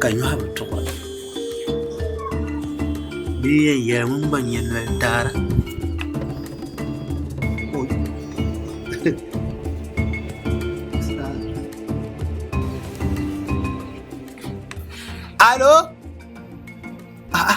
Ka nyɔhi bi tuɣa bɛ yi yɛn yɛli ŋun gba nyɛ noli daara alo a'a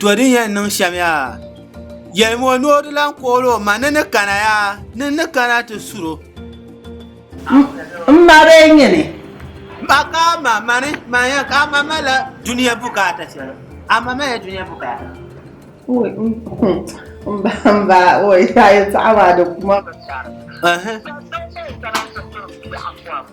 To din yɛn niŋ shɛm yaa yɛlimi o ni o di lahi kool o ma ni ni kana yaa ni ni kana ti suro ka ma mani manya ka ama mala dunia bukaata shɛli ama mala dunia bukaata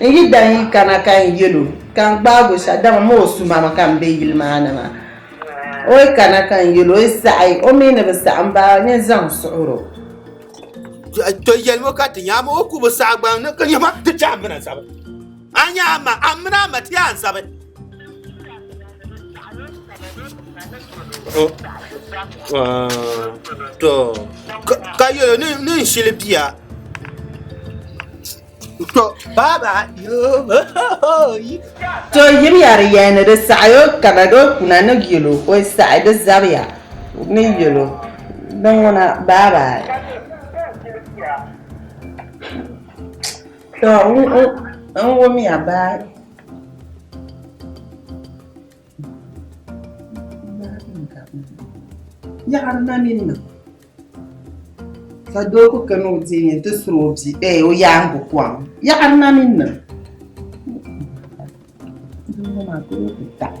N yi daa yi kana ka n yɛl o ka n gbaag o shɛh, dama ma o sumama ka m be yili maa ni maa. O yi kana ka n yɛl o, o yi saɣi o mi ni bi saɣi m ba nyin zaŋ suhir o. Tɔ yɛlim o ka ti nya, amaa o ku bi saɣi gbaŋ ni ka nya ma, ti chahi m bi na zabi. A nya a ma, a mini a ma ti a zabi. To, ka yɛlo ni n shili bia. To, baaba, To yiri yari yɛn ni di saɣayo kana do kuna ni yɛlo o saɣi di zabiya ni yɛlo din ŋuna baaba. To n wumya baa yaɣari na mini na ka doo ku kana o diɛm yɛn ti suri o bia ee o yaangu kom yaɣari na mini na doo ŋɔ maa ka o ku taɣi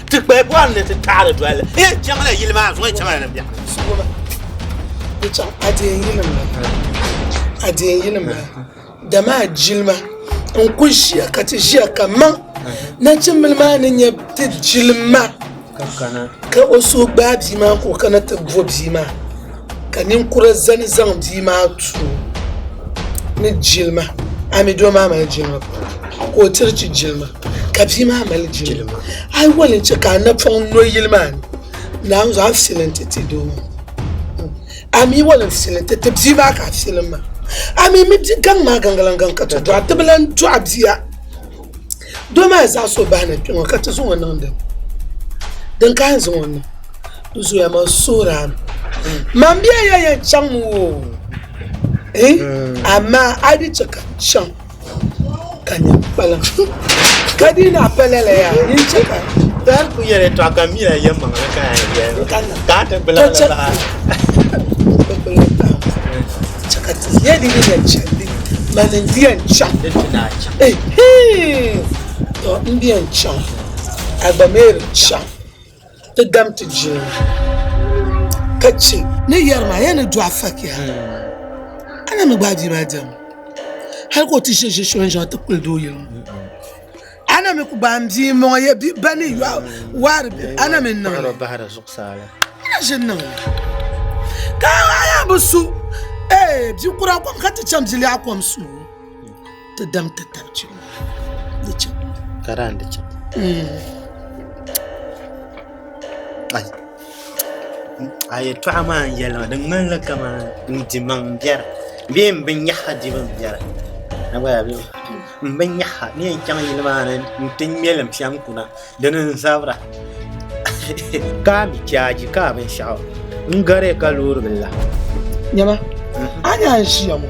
Ti kpahi bɔri ni ti taɣiri doli. N yɛn chaŋla yili maa zuɣu chaŋla ni biɛɣu. Suɣuba, di chaŋ a deei yinim la. A deei yinim la. Dama a jilima n ku ʒiya ka ti ʒiya kaman nachimbili maa ni nyɛ ti jilima ka o suhu gbaai bia maa ka o kana ti bo bia maa. Ka ninkura zani zaŋ bia maa tuo ni jilima a mi doo maa mali jilima ka o tiri ti jilima ka bia maa mali jilima a yi yuli n chɛ ka a napɔŋ no yili maa ni naawuni zuɣu a fili n ti ti doo maa a mi yuli n fili n ti ti bia maa ka a fili n ma a mi mi gaŋ maa gaŋgiliŋ gaŋ ka ti dɔɣi ti bi lan dɔɣi bia. Doo maa zaɣ so bahi ni kpɛ ŋo ka ti zaŋ o niŋ dim din kahi n zaŋ o niŋ di zooya maa sooraan man bɛ ya yɛn chaŋ mi o amaa a yi di chɛ ka chaŋ ka nyɛ kpalaŋ ka di na pa lala yaa ni chɛ ka Dar ku yɛli tɔɣa ka mi la yɛn maŋli ka a yɛn ka a ti gbila Chɛ ka ti nya di ni yɛn chaŋ di ni. Mani n-di yɛn chaŋ. Di ti daa chaŋ. Ehiin! Tɔ! N di yɛn chaŋ. A gba mi di chaŋ. Ti dam ti jina, ka chɛ. Ni yɛri ma, Yen ni do a fakiya, a ni mi gbaai bia maa dam, hal ka o ti ʒe ʒe shɛli n-zaŋ ti kpili dooyili ŋɔ. A na mi ku gbaai m-bia m-mɔŋɔ ya bi ba ni yɔɣu waari bɛ a na mi niŋ li. N na ʒi niŋ li. Ka a yaa bi su ee bi kura kom ka ti chaŋ bi lɛɣu kom subu ti dam ti tab chim di chaŋ. Ka daa di chaŋ. A yɛtɔɣa maa n yɛli ma di ŋmanila kamani n dimaŋ biɛri bee m binyɛhiri dibu m biɛri. M bi nya ha ni yɛn chaŋ yili maa ni n-ti ŋmɛlim piɛm kuna, dini n-zabira. Ka a mi chaaji ka a binshɛɣu n-gari ka loori bila la. Nyama, a ni a ni ʒiya ŋɔ,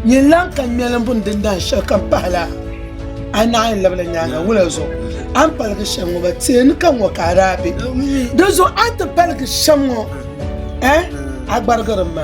nyin lan ka ŋmɛlim bini din dahin shɛli kam pahi la, a naɣ yɛn labila nyaaŋa wula zuɣu a ni paligi shɛm ŋɔ ba tee ni ka ŋɔ ka a daa be. Dinzuɣu a ni ti paligi shɛm ŋɔ, a gbarigiri m ma.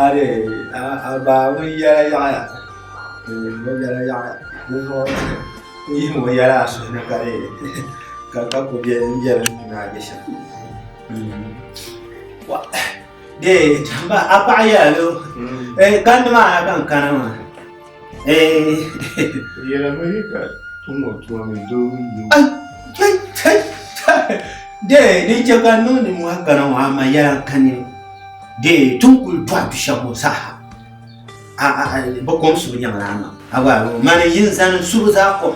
Aadee a baa ŋun yɛla yaɣaya ŋun yɛla yaɣaya ninvuɣu ku yihimi o yɛla a suhu ni ka deei ka ka ku bɛ ni bɛ ni ni a bɛ shɛm dee a paɣa yɛla doo kandi maa ha ka n kana maa Dee ni chɛ ka niŋdi mɔha gana ŋɔ ama yɛla ka ni dee ti ni kuli dɔɣi du shɛba ŋɔ saha bɛ kom subu nyɛmi laa maa a gba yuli mi mani ʒini zani subu zaa kom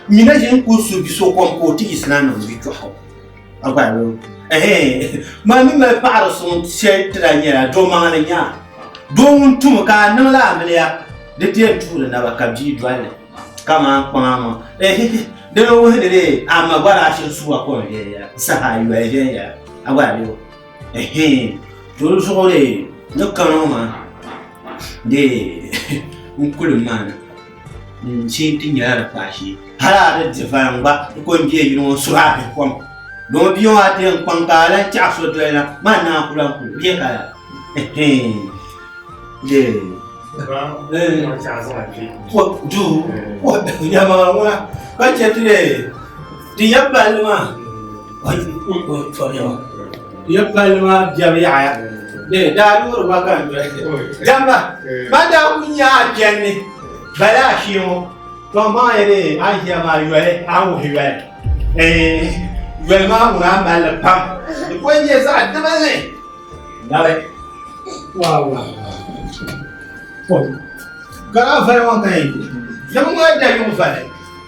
nyina ʒini kuli su biso kom ka o ti yiɣisi na ni o yi kpɛhira. a gba lo maa mi mali paɣiri suŋ shɛli ti da nyɛla dɔmaani nya doo ŋun tum ka a niŋla amiliya di ti yɛn tuhi di naba ka bia dɔlli kamani kpaŋa ŋɔ dina wuhi ni dee a ma gba daa shiri suwa kom viɛnyɛla saha yoli viɛnyɛla a gba lo to di zuɣu dee ni kani ŋɔ maa dee n kuli maana. n chɛ ti nyɛla di kpaai shee hali a ni divaya n gba n ko n deei yili ŋɔ suhi a bihi kom domi bia ŋɔ a ti yɛn kpaŋ ka a lan tɛɣa so doli na maa ni a ku lan kuli bɛ ka duu yɛma ŋuna ka chɛ ti dee Di ya palli maa di ya palli maa biɛbu yaɣaya bee daa loori ba ka n doli damba ba daa ku nya a kpɛnni bala a shee ŋɔ to maa ya dee a ʒiya maa yoli a wuhi yoli yoli maa ŋun a malli pam di ko nyɛ zaɣ dibinli nabi garaavali ŋɔ ka yɛn dimi ŋɔ da yuŋ vali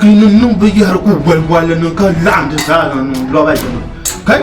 Kinin bi yɛri ku goli goli ni ka laɣindi zaa niŋ lɔba yini. Kai!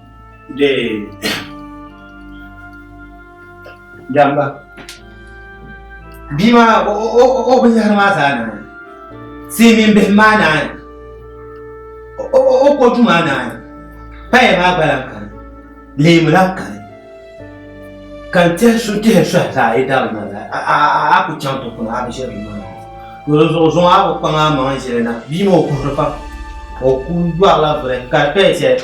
Dee. Damba. Bia maa o o o binyahari maa zaa naani silmiin bihi maa naani o o kootu maa naani paya maa gba lahi kani leemu lahi kani ka n tihi su tihi sohi zaa yi dabi na la a ku chaŋ ti kuna a bi ʒiri ma yuli zuɣu zuŋ a ku kpaŋ a maŋ ʒili na bia maa o kuhuri pam o ku yɔrila biri ka di paya shɛli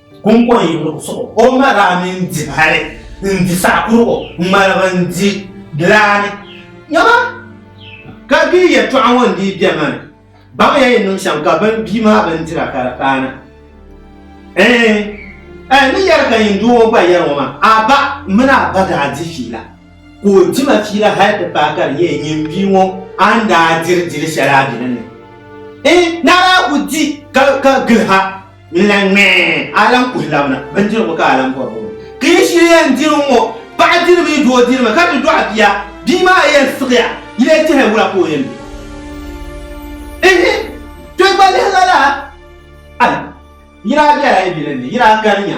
Kuŋkɔŋ yi luɣ suɣu, o ma daa mini di hali n-di saɣ kurigu ŋmaligi n-di laa ni. Nyama! Ka bɛ yi yɛtɔɣa ŋɔ n-dii bɛ ma ni, baŋya yi niŋ shɛm ka bini bia maa bindira ka di paana. Ɛɛn! A yi ni yɛri ka yin doo ŋɔ gba yɛri ŋɔ maa, a ba mini a ba daa di fiila, ka o di ma fiila hali ti paai ka di nyɛ nyin bia ŋɔ a ni daa diri dil shɛli a dini ni. Ɛɛn! Ni a daa ku di ka gili ha. Ni na ŋmɛ a lan kuhi labina bindirigu ka a lan bɔri o mi. Ka yi shiri yɛn diri n ŋɔ, paɣa diri mi doo diri mi, ka ti dɔɣi bia, bia maa yɛn siɣiya, yi lee tɛhi wula ka o yɛn be? Ihi! To gba lihi lala! Ai! Yi daa bela yi bi li ni, yi daa gari nya.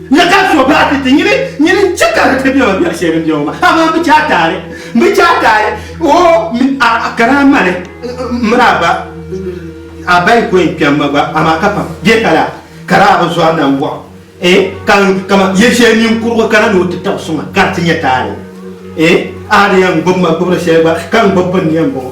Nya ka so baa ti ti nyini, nyini n-chɛ ka di ti bɛ o biɛri shɛli din bɛ o maa, amaa m bi chɛ a taali, m bi chɛ a taali, o mi a, ka daa mali m mini a ba, a ba yi ku yɛn kpɛm ma gba, amaa ka pam bɛ ka la, ka daa bi zɔri na m-bɔɣi o, ee, ka n, kaman yɛli shɛli ninkurugu kana ni o ti tab suŋ a, ka di ti nyɛ taali, ee, a di yɛn gbib ma gbibiri shɛli gba, ka n gbibi pini ni yɛn bɔŋɔ.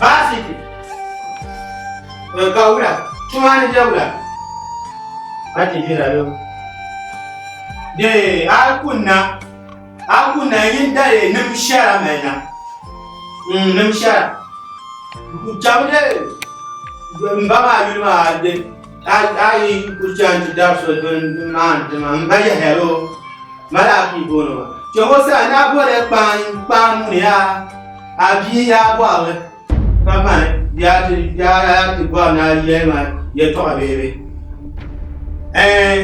Baasiti ka wula tuma ni bɛ wula a ti bira yo de a kunna a kunna yin dali nim shɛra mali na nim shɛra jabu de n ba maa yuli maa de A yi kuli chaŋ ti dabi so din maani tima n ba Yahaya lo mali a bia booni ma. Chɛŋ o sani a boliya kpaam ŋuni yaa a bia yaa bɔrili ka mani yaa ti bɔri ni a yɛli ma yɛtɔɣa bee bi? Ɛɛn!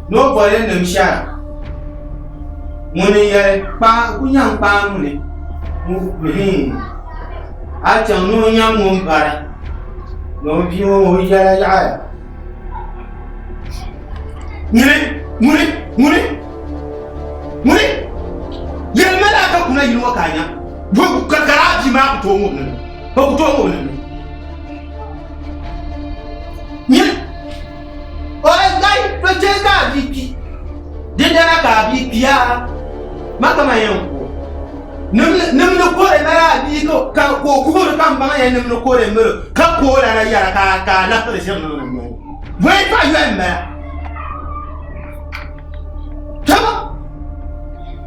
Ni o boli n nim shɛra ŋuni n yɛli ku nyaŋ kpaam ŋuni? Hiin! A chaŋ ni o nyaŋ ŋun bara. Long bia ŋɔ ŋun yɛla yaɣaya. Ŋuni ŋuni ŋuni ŋuni yɛli mali aka kuna yili ŋɔ ka a nya ka ka laa bia maa ku tooi ŋubili mi o ku tooi ŋubili mi. O yi gari to chɛ ka a bia kpi. Dindana ka a bia kpiya ma kaman yɛn ku o. Nim, nim ni kɔre mali a bia ka, ka, ka o kuhiri ka m baŋ ya nim ni kɔre mali o, ka ku o lana yɛra ka, ka a labisiri ʒiɛm niŋ nim noli. Bɔyi paɣ yɔya m-bala. Tɔ!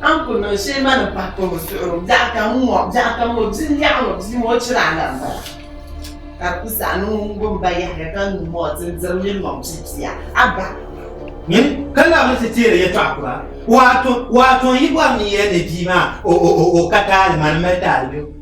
An ku niŋ shee ma ni pahi kɔbo suɣuro biɛɣu kam n ŋɔ biɛɣu kam o bia n yaɣi ŋɔ bia ŋɔ chira la n bala ka di ku saɣi ni ŋun gom ba yahiya ka nyu ŋɔ ti n diri nyin maŋ pipia a ba ka la mi ti teeri yɛtɔɣa kura waato waato yi bɔri ni yɛli ni bia maa o ka taali ma ni mali taali biɛɣu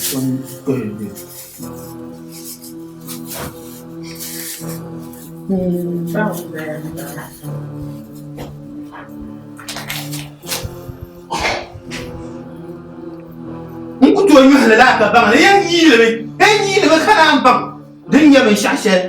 N ku tooi yuhi lala ka baŋ ni yɛn yiilimi, yɛn yiilimi ka naan baŋ din nyɛ binshɛɣu shɛli.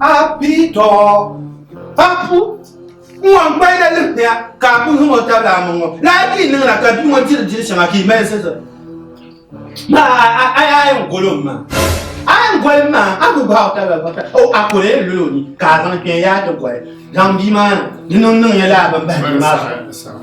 Apito, papu, ŋɔ n gbaya limpia ka a ku niŋ o tabili a maŋɔ laa ti niŋ la ka bia ŋɔ diri diri shɛŋa ka i mali zizi ma a yi a yɛn golo ma a yɛn goli ma a ku gbahi o tabili bɔta o a ku lee lolo ni ka a zaŋ kpɛ yaa ti goli zaŋ bia maa ni niŋ niŋ ya laa ban bahi bia maa zuɣu.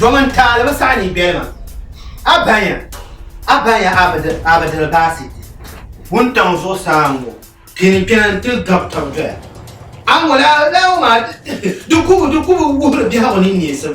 Domin taali bi saɣi ni bɛlima, a baŋya, a baŋya a bi, a bi diri baasi. Wuntaŋ zuɣusaa n-ŋɔ, pini n-kpɛna n-ti gabi taba doya. A ŋɔ laa, laa ŋɔ maa, di, di, di kubu, di kubu wuhiri biɛhigu ni neesim.